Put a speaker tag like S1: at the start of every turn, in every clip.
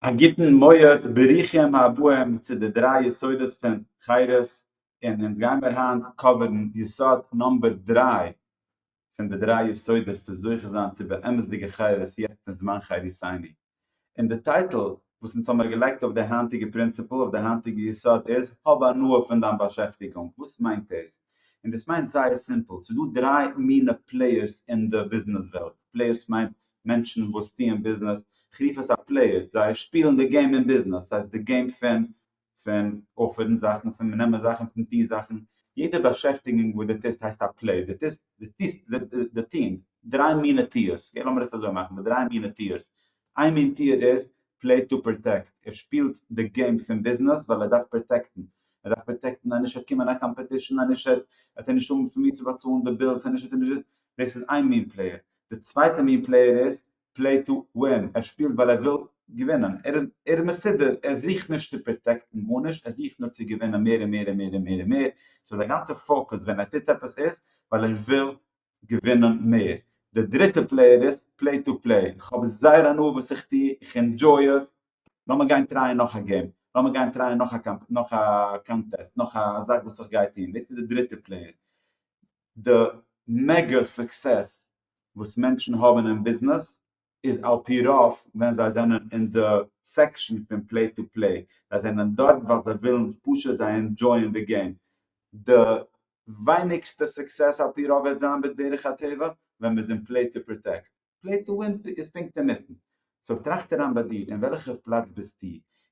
S1: א גוטן מועד, ברוכים הבאים צו די דריי יסודות פון חירות, און אונז גיימיר היינט קאווערן יסוד נאמבער דריי פון די דריי יסודות צו זוכה זיין צו באמת'דיגע חירות יעצט אין זמן חירותינו. און די טייטל וואס אונז האמיר געלייגט אויף די היינטיגע פרינציפל, אויף די היינטיגע יסוד איז, האב הנאה פון דיין באשעפטיגונג. וואס מיינט דאס? און דאס מיינט זייער סימפל, ס'דא דריי מינע פלעיערס אין די ביזנעס וועלט, פלעיערס מיינט מענטשן וואס טוען ביזנעס, כ'רוף עס א פלעיער, זיי שפילן די געים אין ביזנעס, ס'הייסט די געים פון פון אפערן זאכן, פון נעמען זאכן, פון טון זאכן, יעדע באשעפטיגונג וואס דו טוסט הייסט א פלעי, דו טוסט, דו טוסט, די טון, דריי מינע טיערס, אקעי לאמיר עס אזוי מאכן, די דריי מינע טיערס, איין מין טיער איז פלעי טו פראטעקט, ער שפילט די געים פון ביזנעס ווייל ער דארף פראטעקטן, ער דארף פראטעקטן אז נישט עט קומען א קאמפעטישן, אז נישט עט ער נישט האבן פון וואו צו באצאלן די בילס, אז נישט עט ער נישט, דאס איז איין מין פלעיער, די צווייטע מין פלעיער איז פלעי טו ווין, ער שפילט ווייל ער וויל געווינען, ער איז מסודר, ער זוכט נישט צו פראטעקטן גארנישט, ער זוכט נאר צו געווינען מער און מער און מער און מער און מער, סאו זיין גאנצע פאוקוס ווען ער טוט עפעס איז ווייל ער וויל געווינען מער. די דריטע פלעיער איז פלעי טו פלעי, איך האב זייער הנאה וואס איך טו, איך אינדזשוי עס, לאמיר גיין טרייען נאך א געים, לאמיר גיין טרייען נאך א קאנטעסט, נאך א זאך וואס איך גיי טון, דאס איז די דריטע פלעיער. די מעגא סוקסעס וואס מענטשן האבן אין ביזנעס איז על פי רוב ווען זיי זענען אין די סעקשאן פון פלעי טו פלעי, זיי זענען דארט ווייל זיי ווילן פשוט זיי ענדזשויען די געים, די ווייניגסטע סוקסעס על פי רוב וועט זיין בדרך הטבע ווען מען איז אין פלעי טו פראטעקט. פלעט דא און פ איז פונקט אינמיטן. סאו טראכט אריין ביי דיר, אין וועלכע פלאץ ביסטו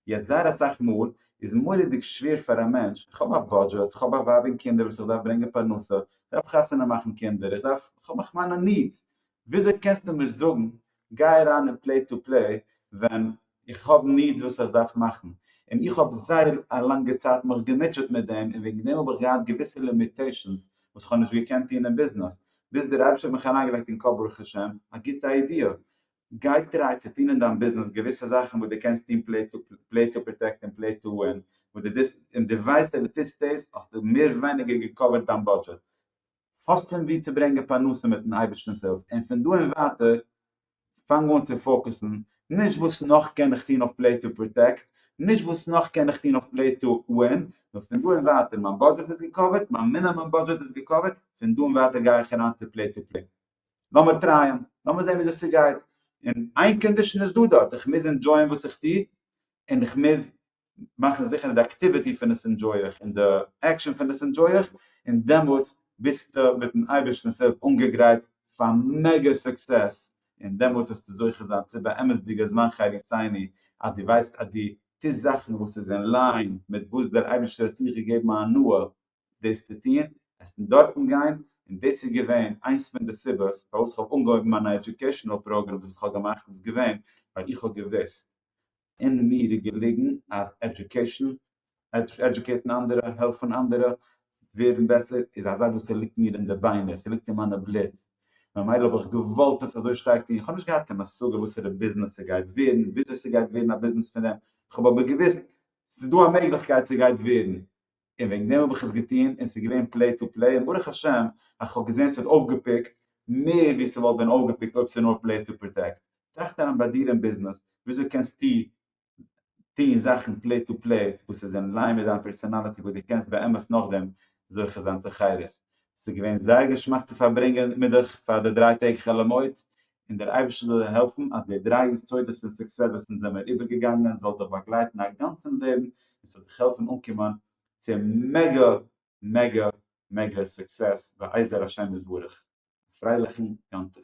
S1: יעצט? זייער אסאך מאל איז מורא'דיג שווער פאר א מענטש, איך האב א בודזשעט, איך האב א ווייב און קינדער וואס איך דארף ברענגען פרנסה, איך דארף חתונה מאכן קינדער, איך דארף, איך האב מיך מיינע נידס. וויאזוי קענסטו מיר זאגן גיי אריין אין פלעט טו פלעי ווען איך האב נידס וואס איך דארף מאכן, און איך האב זייער א לאנגע צייט מיך געמוטשעט מיט דעם, און וועגן דעם האב איך געהאט געוויסע לימיטעישאנס וואס איך האב נישט געקענט טון אין ביזנעס, ביז דער אייבערשטער האט מיך אריינגעלייגט אין קאפ ברוך השם א גוטע איידיע, גיי טריי צו טון אין דיין ביזנעס געוויסע זאכן וואס דו קענסט טון פלעי טו פלעי טו פראטעקט און פלעי טו ווין, וואס דו דאס און דו ווייסט אז דו טוסט דאס האסטו מער ווייניגער געקאווערט דיין בודזשעט. האסט פון וואו צו ברענגען פרנסה מיטן אייבערשטענס הילף און פון דא און ווייטער פאנג אן צו פאוקעסן נישט וואס נאך קען איך טון אויף פלעי טו פראטעקט, נישט וואס נאך קען איך טון אויף פלעי טו ווין, נאר פון דא און ווייטער מיין בודזשעט איז געקאווערט, מיין מינעמום בודזשעט איז געקאווערט, פון דא און ווייטער גיי איך אריין צו פלעי טו פלעי. לאמיר טרייען, לאמיר זען וויאזוי ס'גייט, און איין קאנדישן איז דא דארט, איך מוז ענדזשויען וואס איך טו, און איך מוז מאכן זיכער אז די אקטיוויטי פון עס ענדזשוי איך און די עקשאן פון עס ענדזשוי איך, און דעמאלטס ביסטו מיט'ן אייבערשטנ'ס הילף אנגעגרייט פאר מעגא סוקסעס, און דעמאלטס וועסטו זוכה זיין צו באמת'דיגע זמן חי עיני, אז דו ווייסט אז דו טוסט זאכן וואס איז אין ליין מיט וואס דער אייבערשטער האט דיך געגעבן א הנאה דאס צו טון, עסן דארטן גיין, און דאס איז געווען איינס פון די סיבות פארוואס איך האב אנגעהויבן מיינע עדיוקעישאנעל פראגרעמס וואס איך האב געמאכט איז געווען ווייל איך האב געוואוסט אין מיר איז געליגן אז עדיוקעישן, עדיוקעיטן אנדערע, העלפן אנדערע ווערן בעסער, איז א זאך וואס ס'ליגט מיר אין די ביינער, ס'ליגט אין מיינע בלוט, ממילא האב איך געוואלט עס אזוי שטארק טון, איך האב נישט געהאט קיין השגה וואסערע ביזנעס ס'גייט ווערן, וויאזוי ס'גייט ווערן א ביזנעס פון דעם, איך האב אבער געוואוסט ס'איז דא א מעגליכקייט ס'גייט ווערן, און וועגן דעם האב איך עס געטון און ס'איז געווען פלאי טו פלאי און ברוך השם אז כ'האב געזען ס'ווערט אויפגעפיקט מער ווי ס'וואלט ווען אויפגעפיקט אויב ס'איז נאר פלאי טו פראטעקט. טראכט אריין ביי דיר אין ביזנעס וויאזוי קענסטו טון זאכן פלאי טו פלאי וואס איז אין ליין מיט דיין פערסאנאליטי וואס דו קענסט באמת נאכדעם זוכה זיין צו חירות. ס'איז געווען זייער געשמאק צו פארברענגען מיט דיך פאר די דריי טעג חול המועד און דער אייבערשטער זאל דיר העלפן אז די דריי יסודות פון סוקסעס וואס אונז זעמיר איבערגעגאנגען זאל דיך באגלייטן א גאנצן לעבן און ס'זאל דיך העלפן אנקומען צו מעגא מעגא מעגא סוקסעס בעזר השם יתברך. א פרייליכן יום טוב.